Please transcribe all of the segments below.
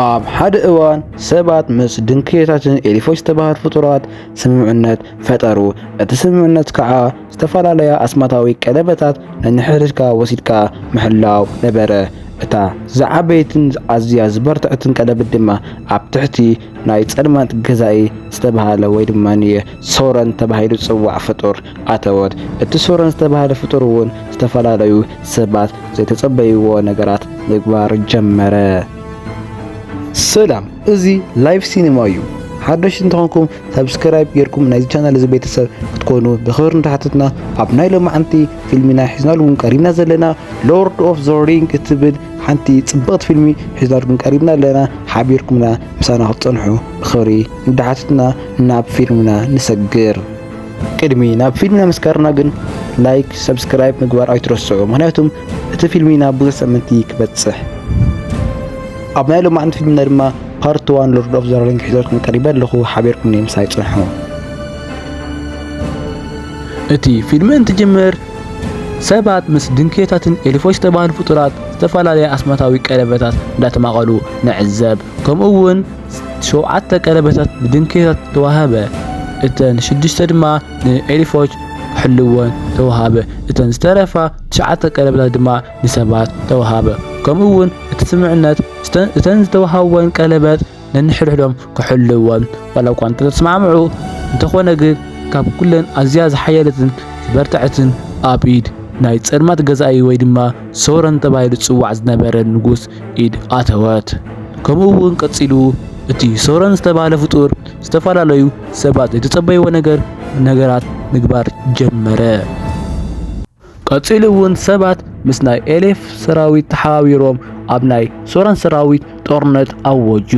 ኣብ ሓደ እዋን ሰባት ምስ ድንክዮታትን ኤሊፎች ዝተባህሉ ፍጡራት ስምምዕነት ፈጠሩ። እቲ ስምምዕነት ከዓ ዝተፈላለያ ኣስማታዊ ቀለበታት ነንሕድሕድካ ወሲድካ ምሕላው ነበረ። እታ ዝዓበየትን ኣዝያ ዝበርትዐትን ቀለበት ድማ ኣብ ትሕቲ ናይ ጸልማት ገዛኢ ዝተባህለ ወይ ድማ ሶረን ተባሂሉ ዝጽዋዕ ፍጡር ኣተወት። እቲ ሶረን ዝተባህለ ፍጡር እውን ዝተፈላለዩ ሰባት ዘይተጸበይዎ ነገራት ምግባር ጀመረ። ሰላም እዚ ላይቭ ሲኒማ እዩ ሓደሽቲ እንተኾንኩም ሳብስክራይብ ጌርኩም ናይዚ ቻናል እዚ ቤተሰብ ክትኮኑ ብኽብሪ እንዳሓተትና ኣብ ናይ ሎማዓንቲ ፊልሚና ሒዝናልኩም ቀሪብና ዘለና ሎርድ ኦፍ ዘ ሪንግ እትብል ሓንቲ ጽብቕቲ ፊልሚ ሒዝናልኩም ቀሪብና ኣለና ሓቢርኩምና ምሳና ክትጸንሑ ብኽብሪ እንዳሓተትና ናብ ፊልምና ንሰግር ቅድሚ ናብ ፊልምና ምስጋርና ግን ላይክ ሰብስክራይብ ምግባር ኣይትረስዑ ምክንያቱም እቲ ፊልሚ ናብ ብዙሕ ሰመንቲ ክበጽሕ ኣብ ናይ ሎማዕንቲ ፊልምና ድማ ፓርት ዋን ሎርድ ኦፍ ዘሪንግ ሒዘልኩም ቀሪበ ኣለኹ ሓቢርኩም ንምሳይ ጽንሑ እቲ ፊልሚ እንትጅምር ሰባት ምስ ድንክዮታትን ኤሊፎች ዝተባህሉ ፍጡራት ዝተፈላለየ ኣስማታዊ ቀለበታት እንዳተማቐሉ ንዕዘብ ከምኡ እውን ሸውዓተ ቀለበታት ብድንኬታት ተዋህበ፣ እተን ሽዱሽተ ድማ ንኤልፎች ክሕልወን ተዋህበ፣ እተን ዝተረፋ ትሽዓተ ቀለበታት ድማ ንሰባት ተዋህበ። ከምኡ እውን እቲ ስምምዕነት እተን ዝተዋህበወን ቀለበት ነንሕድሕዶም ክሕልወን ዋላ እኳ እንተተስማዕምዑ፣ እንተኾነ ግን ካብ ኩለን ኣዝያ ዝሓየለትን ዝበርትዐትን ኣብ ኢድ ናይ ጸልማት ገዛኢ ወይ ድማ ሶረን ተባሂሉ ዝጽዋዕ ዝነበረ ንጉስ ኢድ ኣተወት። ከምኡ እውን ቀጺሉ እቲ ሶረን ዝተባህለ ፍጡር ዝተፈላለዩ ሰባት ዘይተጸበይዎ ነገር ነገራት ምግባር ጀመረ። ቀጺሉ እውን ሰባት ምስ ናይ ኤሌፍ ሰራዊት ተሓባቢሮም ኣብ ናይ ሶረን ሰራዊት ጦርነት ኣወጁ።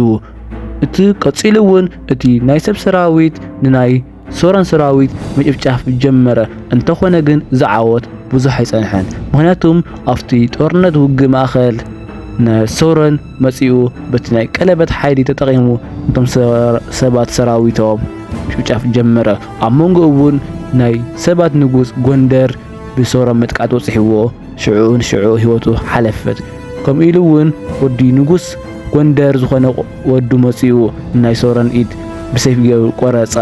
እቲ ቀጺሉ እውን እቲ ናይ ሰብ ሰራዊት ንናይ ሶሮን ሰራዊት ምጭፍጫፍ ጀመረ። እንተኾነ ግን እዚ ዓወት ብዙሕ ኣይጸንሐን። ምክንያቱም ኣብቲ ጦርነት ውግእ ማእከል ንሶሮን መጺኡ በቲ ናይ ቀለበት ሓይሊ ተጠቒሙ እቶም ሰባት ሰራዊቶም ምጭፍጫፍ ጀመረ። ኣብ መንጎ እውን ናይ ሰባት ንጉስ ጎንደር ብሶሮም ምጥቃት ወጽሕዎ ሽዑ ንሽዑ ህይወቱ ሓለፈት። ከምኡ ኢሉ እውን ወዲ ንጉስ ጎንደር ዝኾነ ወዱ መጺኡ ናይ ሶረን ኢድ ብሰይፍ ገይሩ ቆረጻ።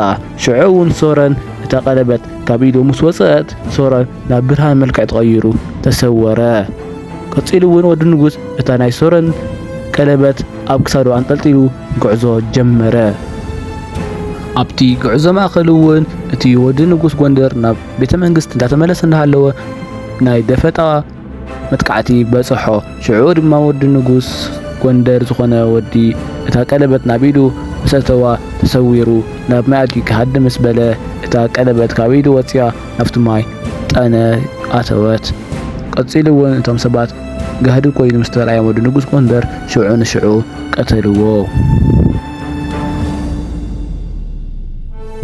ሽዑ እውን ሶረን እታ ቀለበት ካብ ኢዱ ምስ ወጸት ሶረን ናብ ብርሃን መልክዕ ተቐይሩ ተሰወረ። ቀጺሉ እውን ወዲ ንጉስ እታ ናይ ሶረን ቀለበት ኣብ ክሳዱ ኣንጠልጢሉ ጉዕዞ ጀመረ። ኣብቲ ጉዕዞ ማእከል እውን እቲ ወዲ ንጉስ ጎንደር ናብ ቤተ መንግስት እንዳተመለሰ እንዳሃለወ ናይ ደፈጣ መጥቃዕቲ በጽሖ። ሽዑ ድማ ወዲ ንጉስ ጎንደር ዝኾነ ወዲ እታ ቀለበት ናብ ኢዱ ምስ ኣተዋ ተሰዊሩ ናብ ማይ ኣትዩ ክሃድም ምስ በለ እታ ቀለበት ካብ ኢዱ ወጺኣ ናብቲ ማይ ጠነ ኣተወት። ቀጺሉ እውን እቶም ሰባት ጋህዲ ኮይኑ ምስ ተራእዮም ወዲ ንጉስ ጎንደር ሽዑ ንሽዑ ቀተልዎ።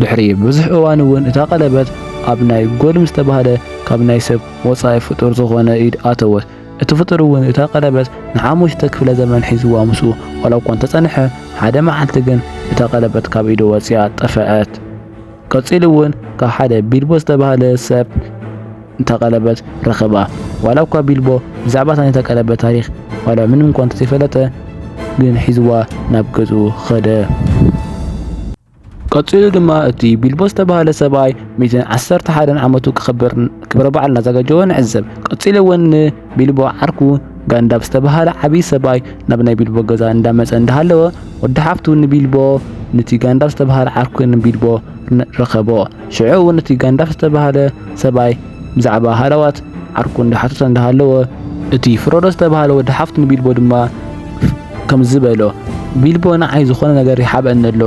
ድሕሪ ብዙሕ እዋን እውን እታ ቀለበት ኣብ ናይ ጎልም ዝተባህለ ካብ ናይ ሰብ ወጻኢ ፍጡር ዝኾነ ኢድ ኣተወት። እቲ ፍጡር እውን እታ ቀለበት ንሓሙሽተ ክፍለ ዘመን ሒዝዋ ምስኡ ዋላ እኳ እንተጸንሐ፣ ሓደ መዓልቲ ግን እታ ቀለበት ካብ ኢዱ ወጺኣ ጠፈኣት። ቀጺሉ እውን ካብ ሓደ ቢልቦ ዝተባህለ ሰብ እታ ቀለበት ረኸባ። ዋላ እኳ ቢልቦ ብዛዕባ እታ ናይታ ቀለበት ታሪኽ ዋላ ምንም እኳ እንተዘይፈለጠ ግን ሒዝዋ ናብ ገዝኡ ኸደ። ቀጺሉ ድማ እቲ ቢልቦ ዝተባህለ ሰብኣይ ሚዘን ዓሰርተ ሓደን ዓመቱ ክኽብር ክብረ በዓል እናዘጋጀወ ንዕዘብ። ቀጺሉ እውን ንቢልቦ ዓርኩ ጋንዳብ ዝተባህለ ዓብዪ ሰብኣይ ናብ ናይ ቢልቦ ገዛ እንዳመጸ እንዳሃለወ ወዲ ሓፍቱ ንቢልቦ ንቲ ጋንዳብ ዝተባህለ ዓርኩ ንቢልቦ ረኸቦ። ሽዑ እውን እቲ ጋንዳብ ዝተባህለ ሰብኣይ ብዛዕባ ሃለዋት ዓርኩ እንዳሓተተ እንዳሃለወ እቲ ፍሮዶ ዝተባህለ ወዲ ሓፍቱ ንቢልቦ ድማ ከምዚ በሎ፣ ቢልቦ ንዓይ ዝኾነ ነገር ይሓብአኒ ኣሎ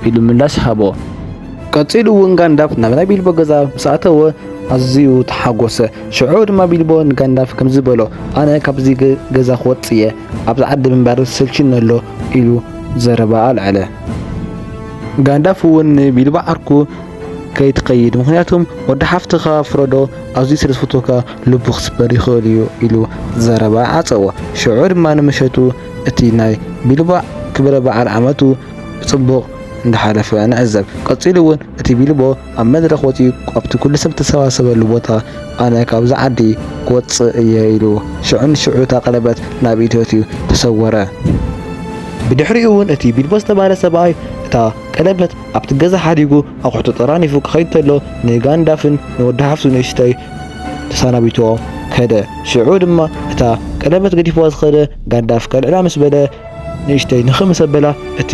ኢሉ ምላሽ ሃቦ። ቀጺሉ እውን ጋንዳፍ ናብ ናይ ቢልቦ ገዛ ምስ ኣተወ ኣዝዩ ተሓጎሰ። ሽዑ ድማ ቢልቦ ንጋንዳፍ ከምዚ በሎ፣ ኣነ ካብዚ ገዛ ክወጽእ እየ፣ ኣብዚ ዓዲ ምንባር ሰልችዩኒ ኣሎ ኢሉ ዘረባ ኣልዐለ። ጋንዳፍ እውን ንቢልቦ ዓርኩ ከይትኸይድ ምኽንያቱም ወዲ ሓፍትኻ ፍረዶ ኣዝዩ ስለ ዝፈትወካ ልቡ ክስበር ይኽእል እዩ ኢሉ ዘረባ ዓጸዎ። ሽዑ ድማ ንምሸቱ እቲ ናይ ቢልቦ ክብረ በዓል ዓመቱ ብጽቡቕ እንዳሓለፈ ንዕዘብ። ቀጺሉ እውን እቲ ቢልቦ ኣብ መድረኽ ወጺኡ ኣብቲ ኩሉ ሰብ ዝተሰባሰበሉ ቦታ ኣነ ካብዚ ዓዲ ክወጽእ እየ ኢሉ ሽዑ ንሽዑ እታ ቀለበት ናብ ኢዱ ኣእትዩ ተሰወረ። ብድሕሪኡ እውን እቲ ቢልቦ ዝተባህለ ሰብኣይ እታ ቀለበት ኣብቲ ገዛ ሓዲጉ ኣቑሑቱ ጠራኒፉ ክኸይድ ተሎ ንጋንዳፍን ንወዲ ሓፍቱ ንእሽተይ ተሰናቢትዎ ከደ። ሽዑ ድማ እታ ቀለበት ገዲፍዋ ዝኸደ ጋንዳፍ ከልዕላ ምስ በለ ንእሽተይ ንኽ ምስ ኣበላ እቲ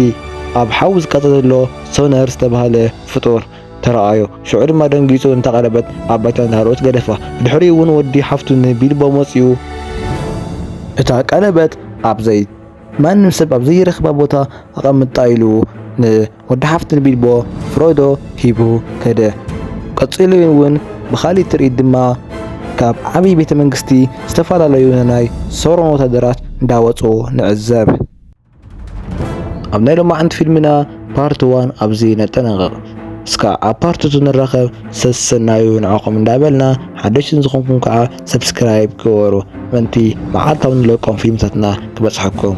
ኣብ ሓዊ ዝቃጸል ዘሎ ሶነር ዝተባህለ ፍጡር ተራኣዮ። ሽዑ ድማ ደንጊጹ ነታ ቀለበት ኣብ ባይታ እንዳሃለወት ገደፋ። ብድሕሪኡ እውን ወዲ ሓፍቱ ንቢልቦ መጺኡ እታ ቀለበት ኣብ ዘይ ማንም ሰብ ኣብ ዘይረኽባ ቦታ ኣቐምጣ ኢሉ ንወዲ ሓፍቲ ንቢልቦ ፍሮዶ ሂቡ ከደ። ቀጺሉ እውን ብኻልእ ትርኢት ድማ ካብ ዓብዪ ቤተ መንግስቲ ዝተፈላለዩ ናይ ሶሮን ወታደራት እንዳወጹ ንዕዘብ። ኣብ ናይ ሎማዕንቲ ፊልምና ፓርት ዋን ኣብዚ ነጠናቕቕ። እስካ ኣብ ፓርት ቱ ንራኸብ ሰሰናዩ ንዓኹም እንዳበልና ሓደሽቲ ንዝኾንኩም ከዓ ሰብስክራይብ ግበሩ ምእንቲ መዓልታዊ ንለቆም ፊልምታትና ክበጽሓኩም።